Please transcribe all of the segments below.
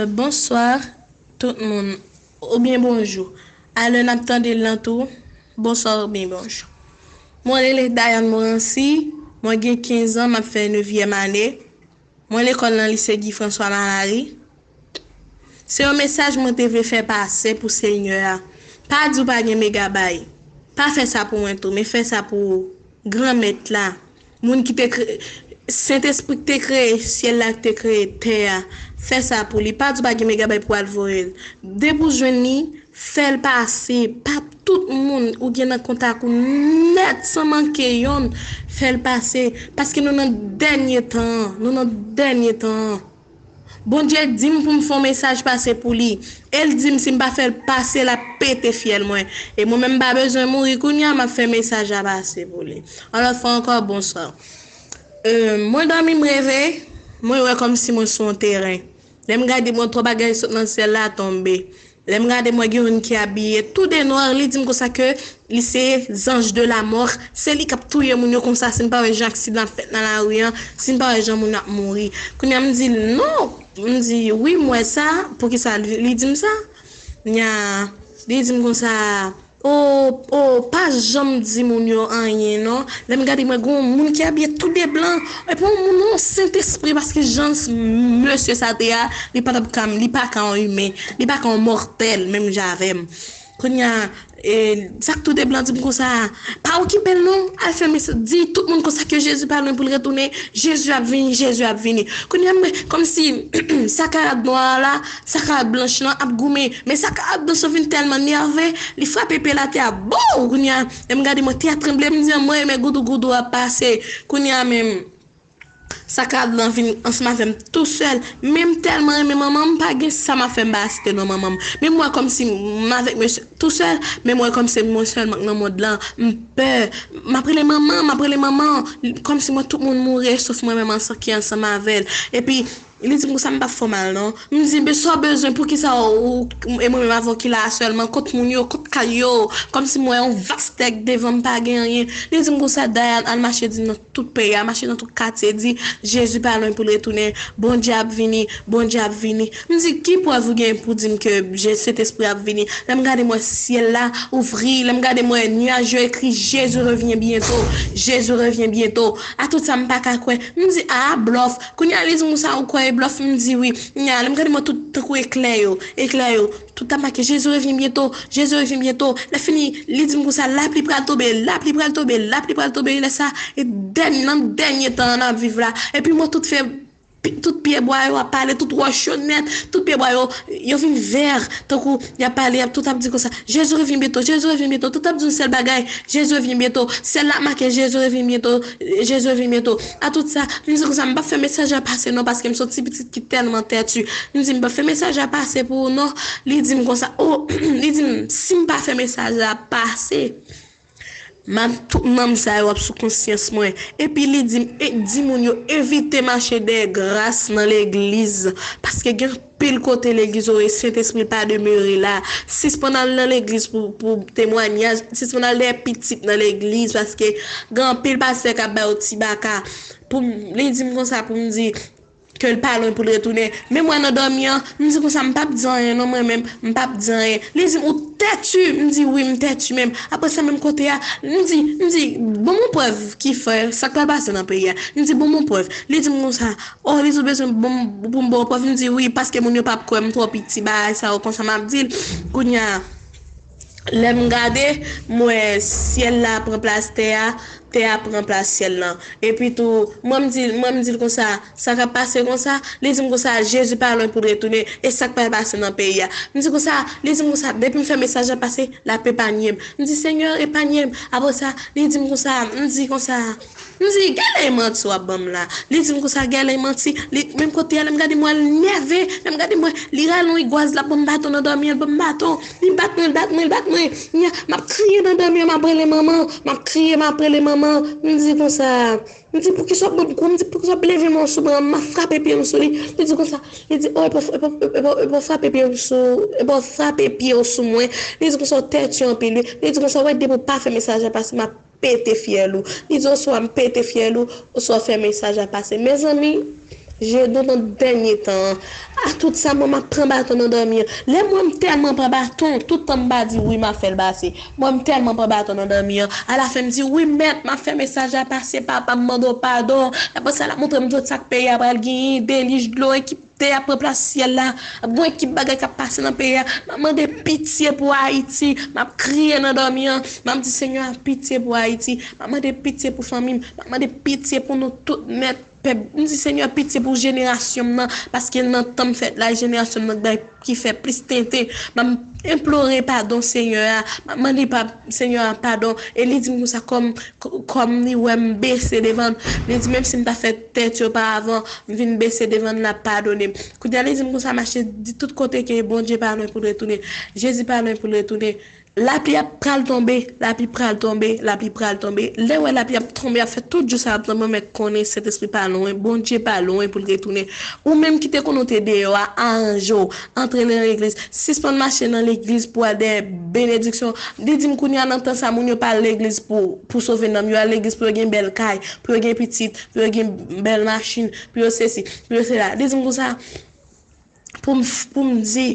Bonsoir tout moun ou byen bonjou a lè nap tande l lan tou bonsoir ou byen bonjou mwen rele Dayane Morancy mwen gen 15 ans map fè nevyèm ane mwen lekòl nan lise Guy François Malary se yon mesaj mwen te vle fè pase pou senyè a pa di ou pa gen megabay pa fè sa pou mwen tou men fè sa pou granmèt la Moun ki te kreye. Sentespri ki te kreye syèl la ki te kreye tè a fè sa pou li pa di w pa gen megabay pou al voye l depi w jwenn li fè l pase pa tout moun ou gen nan kontak ou nèt san manke yonn fè l pase paske nou nan dènye tan an nou nan dènye tan an. Bondye dim poum fon mesaj pase pou li el dim sim pa fèl pase lap pete fyèl mwen e mwen menm mpa bezwen mouri kounya map fè mesaj la pase pou li yon lòt fwa ankò bonswa humm mwen dòmi m reve mwen wè kòmsi mwen sou yon teren lèm gade mwen twò bagay sot nan syèl la tonbe Lèm gade m wè gen youn ki abiye tout de noir li dim konsa ke li se zanj de la mort se li kap touye moun yo konsa sin pa wè jan aksidan ap fèt nan lari an sin pa wè jan moun yo ap mouri kounya m dil non m di wi m wè sa poukisa li dim sa kounya li dim konsa. Ooh oh pa janm di moun yo anyen non lèm gade mwen gen yon moun ki abiye tou de blan epi yon moun yon sentespri paske jan mesye sa te a li patap ka li paka yon imen li paka yon mòtèl menm jan avèm kounya sak tou de blan dim konsa a pa okipel non al fè mès di tout moun konsa ke jezi pa lwen poul retounen jezi ap vini jezi ap vini kounya mwen kòmsi sa karad nwa a la. Sakar blanch lan ap goumen. Men Sakar blanch lan fin tèlman nève, li frape pye l atè a boww! Kounye a, lè m gade mwen tè a tranble, m di anmwey men goudougoudou a pase. Kounye a menm Sakar blan vin ansanm avè m tou sèl. Men m tèlman renmen manman m, m pa gen sa m ap fè m pa asite non manman m. Men m wè kòmsi m avèk mesye tou sèl, men m wè kòm se mwen sèlman k nan mond lan. M pè. M ap rele manman, m ap rele manman. Kòmsi m wè tout moun mouri eksof mwen menm ki ansanm avè l. Epi. Li di m konsa m pa fè w mal non. M di men sa w bezwen poukisa ou e mwen menm avè w ki la a sèlman kot moun yo kot kay yo kòmsi m wè yon vas tè k devan m pa gen anyen. Li di m konsa Dayane al mache di nan tout peyi a mache nan tout katye di Jezi pa lwen pou l retounen Bondye ap vini Bondye ap vini m di ki prèv ou gen pou di m ke Jezi Sentespri a ap vini lè m gade m wè syèl la ouvri lè m gade m wè nuaj yo ekri Jezi revyen byento Jezi revyen byento a tout sa m pa ka kwè m di aa blòf Kounye a li di moun sa yo kwè e blòf m di wi. Kounye a lè m gade mwen tout tankou eklè yo, eklè yo, tout ap make Jezi revyen byento, Jezi revyen byento. Lè fini li di m konsa lapli pral tonbe, lapli pral tonbe, lapli pral tonbe lè sa e dènye nan dènye tan an n ap viv la. Epi mwen tout fè tout pyè bwa yo ap pale, tout wòch yo nèt, tout pyè bwa yo, yo vin vè tankou y ap pale y ap tout ap di konsa Jezi revyen byento, Jezi revyen byento, tout ap di yon sèl bagay Jezi revyen byento. Syèl la ap make Jezi revyen byento, Jezi revyen byento. A tout sa, m di konsa, m pap fè mesaj la pase non paske m son ti pitit ki tèlman tètu. M di m pap fè mesaj la pase pou ou non. Li di m konsa, o, li di m, si m pa fè mesaj la pase, map, tout nonm sa yo ap sou konsyans mwen. Epi li di m, e, di moun yo evite mache dèyè gras nan legliz paske gen. Pil kote legliz ou e sentespri pa demere la sispann al nan legliz pou temwanyaj sispann al dèyè pitit nan legliz paske gen anpil pastè kap ba yo ti baka poum li dim konsa poum di kel pa lwen poul retounen menm wè nan dòmi an m di konsa m pap di anyen non mwen menm m pap di anyen li dim ou tètu m di wi m tètu menm aprè sa menm kote a m di m di bon m on prèv kifè sak pral pase nan peyi a m di bon m on prèv li dim konsa Oh Liz ou bezwen bon pou m baw prèv m di wi paske moun yo pap kwè m twò piti bagay sa yo konsa map dil kounya lè m gade m wè syèl la pran plas tè a tè a pran plas syèl lan epi tou mwen m dil mwen m dil konsa sa kap pase konsa li dim konsa Jezi pa lwen poul retounen e sak pral pase nan peyi a m di konsa li dim konsa depi m fè mesaj la pase lap epanye m m di senyè epanye m aprè sa li dim konsa m di konsa. M di, Gelin manti w ap ban m la. Li di m konsa, Gelin manti. Li, menm kote y ale, m gade m wè l nève. Lè m gade m wè, li rale yon igwaz, l ap ban m baton nan dòmi an, l ban m baton. Li bat mwen, l bat mwen, l bat mwen. M ya, m ap kriye nan dòmi an, m ap rele manman. M ap kriye, m ap rele manman. M di konsa, m di poukisa w ap ban m kou? M di poukisa w ap leve men w sou mwen? M ap frape pye m sou li. Li di konsa, li di, o epa w, epa w, epa w, epa w frape pye m sou, epa w frape pye w sou mwen. Li di konsa, w tètye anpil wi. Li di konsa, wè depi w pa fè mesaj la pase, m ap. pete fyèl ou. Li di oswa m pete fyèl ou, oswa w fè mesaj la pase. Mezanmi, Jedon nan dènye tan an, a tout sa m wè m ap pran baton nan dòmi an. Lè m wè m tèlman pran baton, tout tan m pa di wi m ap fè l pase. M wè m tèlman pran baton nan dòmi an, alafen m di, wi mèt, m ap fè mesaj la pase, papa m mande w padon. Apresa l ap montre m tout sa k peyi a pral genyen, delij dlo, enki. Tè a pran plas syèl la. Ap gon ekip bagay k ap pase nan peyi a. M ap mande pitye pou Ayiti. M ap kriye nan dòmi an. M ap di Senyè a pitye pou Ayiti. M ap mande pitye pou fanmi m. M ap mande pitye pou nou tout nèt. Pèp, m di Senyè pitye pou jenerasyon m nan, paske l nan tan m fèt la, jenerasyon m nan k bay, ki fè plis tenten. M ap enplore padon Senyè a. M ap mande pa, Senyè a padon. E li di m konsa kòm, kòm li wè m bese devan l. Li di menmsi m ta fè. Tèt yo pa avan m vin bese devan l lap padone m kounya li di m konsa mache di tout kote ke Bondye pa lwen pou l retounen Jezi pa lwen pou l retounen lapli ap pral tonbe lapli pral tonbe lapli pral tonbe lè wè lapli ap tonbe ap fè tout jou sa ap tonbe ou mèt konnen Sentespri pa lwen Bondye pa lwen pou l retounen ou menm ki te konnen w te deyò a aranje w antre nan legliz sispann mache nan legliz pou al dèyè benediksyon li di m kounya nan tan sa moun yo pa al legliz pou pou sove nanm yo al legliz pou yo gen bèl kay pou yo gen pitit, pou yo gen bèl machin, pou yo sesi, pou yo sela. Li di m konsa pou m di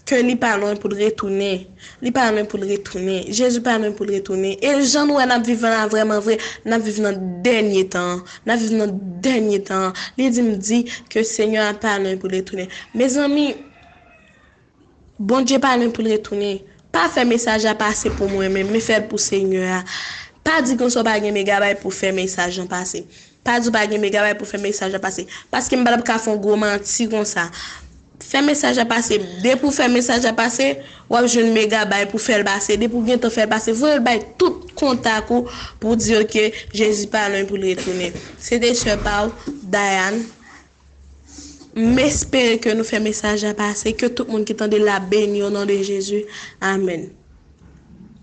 ke li pa lwen pou l retounen. Li pa lwen pou l retounen. Jezi pa lwen pou l retounen. E jan nou wè n ap viv la vrèmanvre, n ap viv nan dènye tan an. N ap viv nan dènye tan an. Li di m di ke Senyè a pa lwen pou l retounen. Mezanmi! Bondye pa lwen pou l retounen. Pa fè mesaj la pase pou mwen menm, men fèl pou Senyè a. Pa di konsa w pa gen megabay pou fè mesaj lan pase. Pa di w pa gen megabay pou fè mesaj la pase. Paske m patap ka fè yon gwo manti konsa. Fè mesaj la pase. Depi w fè mesaj la pase, w ap jwenn megabay pou fè l pase. Depi w gentan fè l pase, voye l bay tout kontak ou pou w di yo ke Jezi pa lwen pou l retounen. Se te sè pa w, Diane, M espere ke nou fè mesaj la pase, ke tout moun ki tande la beni o non de Jezi. Amen.